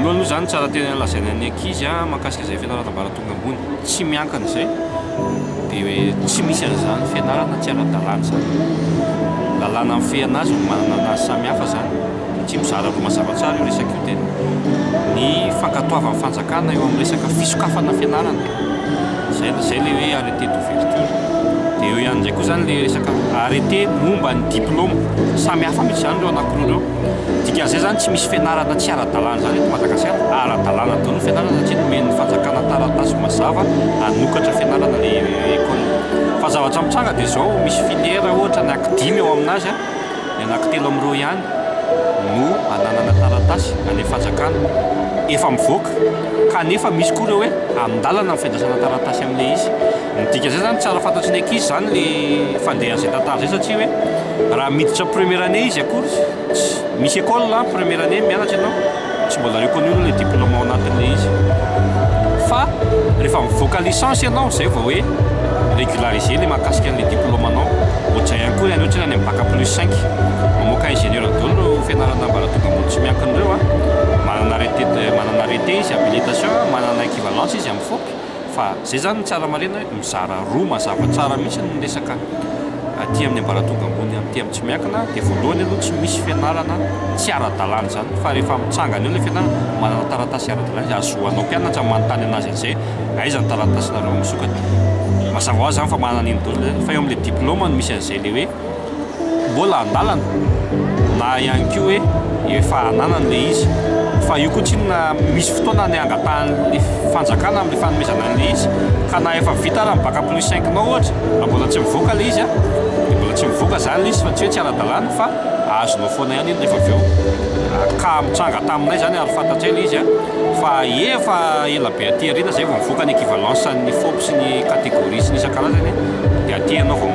Voalohany aloha izany tsara tena lazaina ny ankizy mahakasika izay fianarana ambaratonga ambony tsy miankina izay dia hoe tsy misy an'izany fianarana tsy ara-dalàna izany. Lalàna mifehana azy no manana ny azy samihafa izany dia tsy mizara roa mazava tsara io resaka io tena. Ny fankatoavan'ny fanjakana eo amin'ny resaka fisokafana fianarana izay izay ilay hoe arrêté d'ouverture dia eo ihany indray koa izany ilay resaka arrêté momba ny diploma. Samihafa mihitsy izany ireo anankiroa ireo. Dikan'izay izany tsy misy fianarana tsy ara-dalàna izany eto Madagasikara. Ara-dalàna daholo ny fianarana satria nomen'ny fanjakana taratasy mazava hanokatra fianarana ilay ecole. Fa ny zavatra mitranga dia izao, misy filière ohatra anaky dimy ao amin'azy an, ny anaky telo amin'ireo ihany no ananana taratasy any amin'ny fanjakana efa mivoaka kanefa misy koa ireo hoe amin-dalana ny fiandrasana taratasy amin'ilay izy. Midika zay zany tsara fantatry ny ankizy zany le fandehan zay tantara zay satria hoe raha miditra première année izy akory tsy misy école an première année mianatra ianao tsy mbola reconnu aloha le diplôme ao anatiny le izy fa rehefa mivoaka licence ianao zay vao hoe régularisé le mahakasika anle diplôme anao ohatrizay ihany koa le any ohatry ny any am bac plus cinq mamoaka ingénieur daoly reo fianarana ambaratonga ambony tsy miankina reo an manana arrêté manana arrêté izy habilitation manana équivalence izy am fop Fa izay izany no tsara marihina hoe mizara roa mazava tsara mihitsy ny resaka aty amin'ny ambaratonga ambony aty amin'ny tsy miankina dia voalohany aloha tsy misy fianarana tsy ara-dalàna izany fa rehefa mitsangana eo ilay fianarana manana taratasy ara-dalàna izy ahazoanao mpianatra manontany an'azy an'izay aiza ny taratasinareo misokatra mazava ho azy izany fa manana an'iny daholo fa eo amin'ilay diplaoma no misy an'izay ilay hoe mbola andalana na ihany koa hoe efa ananany ilay izy fa io koa tsinona misy fotoana ny angatahan'ny fanjakana amin'ny fanomezana an'ilay izy ka na efa vita ara ny bac plus cinq nao ohatra fa mbola tsy mivoaka ilay izy an dia mbola tsy mivoaka izany ilay izy fa tsy hoe tsy ara-dalàna fa azonao foana ihany iny rehefa avy eo ka mitranga taminay izany ary fantatray ilay izy an fa efa ela be aty aoriana izay vao mivoaka ny équivalence an'ny fop sy ny catégorie sy ny isan-karazany Dia aty ianao vao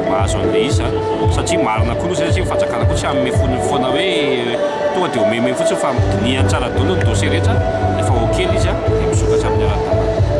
mahazo an'ilay izy a! Satria marina koa loza satria ny fanjakana koa tsy hanome fonony foana hoe tonga dia omeme fotsiny fa dinihany tsara daholo ny dossier rehetra, rehefa ok ilay izy dia misokatra amin'ny ara-dalàna.